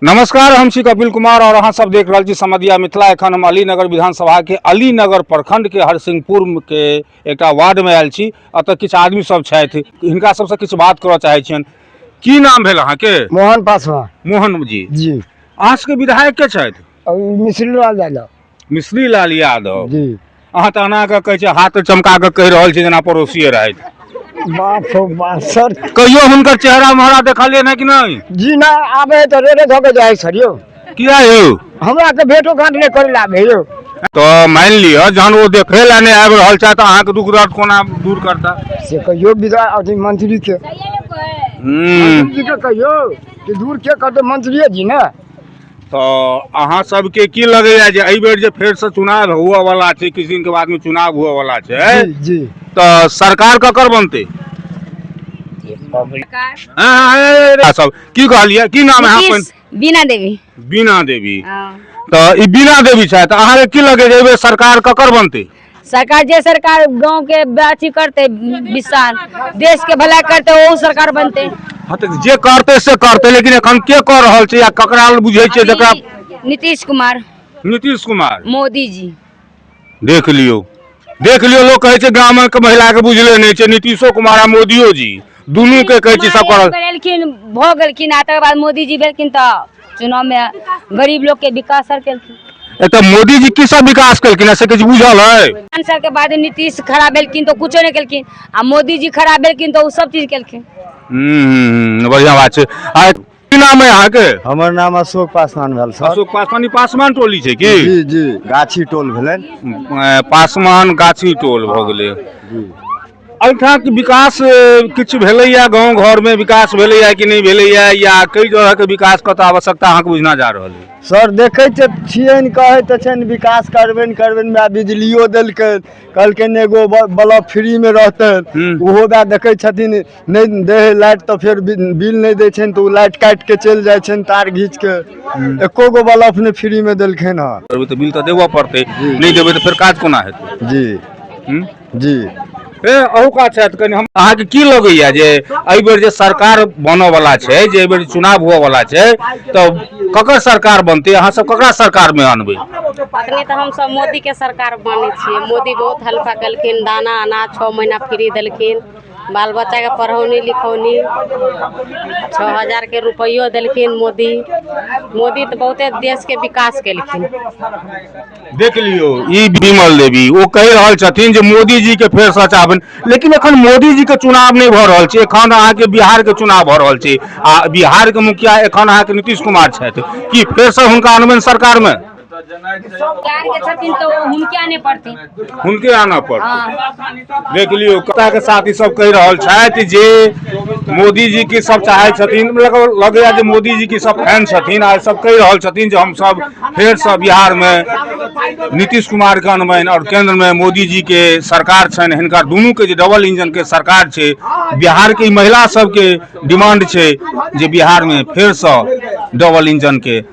नमस्कार हम छी कपिल कुमार और अहाँ सब देख रहल छी समदिया मिथिला एखन हम अलीनगर विधानसभा के अलीनगर प्रखंड के हरसिंहपुर के एकटा वार्ड में आयल छी अतः किछु आदमी सब छथि हिनका सबसँ किछु बात करऽ चाहै छियनि की नाम भेल अहाँके मोहन पासवान मोहन जी जी अहाँ सबके विधायक के छथि मिश्री लाल यादव मिश्री लाल यादव जी अहाँ तऽ एना कऽ कहै छियै हाथ चमका कऽ कहि रहल छी जेना पड़ोसिए रहथि बाप हो बाप सर कहियो हुनकर चेहरा महरा देखलियै ने कि नहि जी ना आबे तो रेडे धो के जाए सर यो किया यौ हमरा के भेटो घाट नहीं करे लाबे यो तऽ मानि लिअ जहन ओ देखै लए नहि आबि रहल छथि तऽ अहाँके दुख दर्द कोना दूर करता से कहियो विदा अथी मंत्री के हूँ मंत्री जी के कहियो कि दूर के करते मंत्रिये जी ना तऽ अहाँ सबके की लगैया जे एहि बेर जे फेर से चुनाव हुअ वाला छै किछु दिन के बाद में चुनाव हुअ वाला छै जी जी तऽ सरकार ककर बनतै अहाँ सब की कहलियै की नाम है अपन नीतीश बीना देवी बीना देवी हँ। तऽ ई बीना देवी छथि अहाँके की लगैया जे एहि बेर सरकार ककर बनतै सरकार जे सरकार गाँव के अथी करते विशाल देश के भला करते वो सरकार बनते हाँ तऽ जे करतै से करतै लेकिन एखन के कऽ रहल छै या ककरा लग बुझै छै जकरा अभी नीतीश कुमार नीतीश कुमार मोदी जी देख लियौ देख लियौ लोक कहै छै ग्रामीणके महिलाके बुझले नहि छै नीतीशो कुमार आ मोदियो जी दुनू के कहै छी सब करल करेलखिन भऽ गेलखिन आ तकर बाद मोदीजी भेलखिन तऽ चुनावमे गरीब लोकके विकास सर केलखिन एतऽ मोदी जी की सब विकास केलखिन से किछु बुझल है पाँच साल के बाद नीतीश खड़ा भेलखिन तऽ कुछो नहि केलखिन आ मोदीजी खड़ा भेलखिन तऽ ओ सब चीज केलखिन हम्म, बढ़िया बात छै आ की नाम है यहाँ के हमर नाम अशोक पासवान भेल सर अशोक पासवान ई पासवान टोली छै की जी जी गाछी टोल भेलनि अ, पासवान गाछी टोल भऽ गेलै जी एहिठामक विकास अ, किछु भेलैया गाँव घरमे विकास भेलैया कि नहि भेलैया या कई तरहके विकास कतऽ आवश्यकता अहाँके बुझना जा रहल है सर देखै तऽ छियनि कहै तऽ छनि विकास करबनि करबनि वएह बिजलियो देलकै कहलकनि एगो ब- बल्ब फ्रीमे रहतनि हूँ। ओहो वएह देखै छथिन नहि दै है लाइट तऽ फेर बि- बिल नहि दै छनि तऽ ओ लाइट काटि कऽ चलि जाइ छनि तार घीच कऽ एको गो बल्ब नहि फ्रीमे देलखिन हँ करबै तऽ बिल तऽ देबऽ पड़तै नहि देबै तऽ फेर काज कोना हेतै जी हूँ? जी ए अहू काज छथि कनि हम अहाँके की लगैया जे एहि बेर जे सरकार बनऽ वाला छै जे एहि बेर चुनाव हुअ वाला छै तऽ ककर सरकार बनतै अहाँ सब ककरा सरकार मे अनबै अखने तऽ हमसभ मोदीके सरकार मानै छियै मोदी बहुत हल्का केलखिन दाना अनाज छओ महीना फ्री देलखिन बाल बच्चाके पढ़ौनी लिखौनी छओ हजारके रुपैओ देलखिन मोदी मोदी तऽ बहुते देशके विकास केलखिन देख लियौ ई विमल देवी ओ कहि रहल छथिन जे मोदीजीके फेर सचाबन लेकिन एखन मोदीजीके चुनाव नहि भऽ रहल छै एखन अहाँके बिहारके चुनाव भऽ रहल छै आ बिहारके मुखिया एखन अहाँके नीतीश कुमार छथि की फेरसँ हुनका अनबनि सरकारमे हुनके आना पड़तै देख लियौ के साथ ई सब कहि रहल छथि जे मोदीजी के सब चाहे छथिन मतलब लगैया जे मोदीजी के सब फैन छथिन आ सब कहि रहल छथिन जे हमसब फेरसँ बिहारमे नीतीश कुमार के अनबनि आओर केन्द्रमे मोदीजी के सरकार छनि हिनका दुनूके जे डबल इंजनके सरकार छै बिहारके महिला सबके डिमांड छै जे बिहारमे फेरसँ डबल इंजनके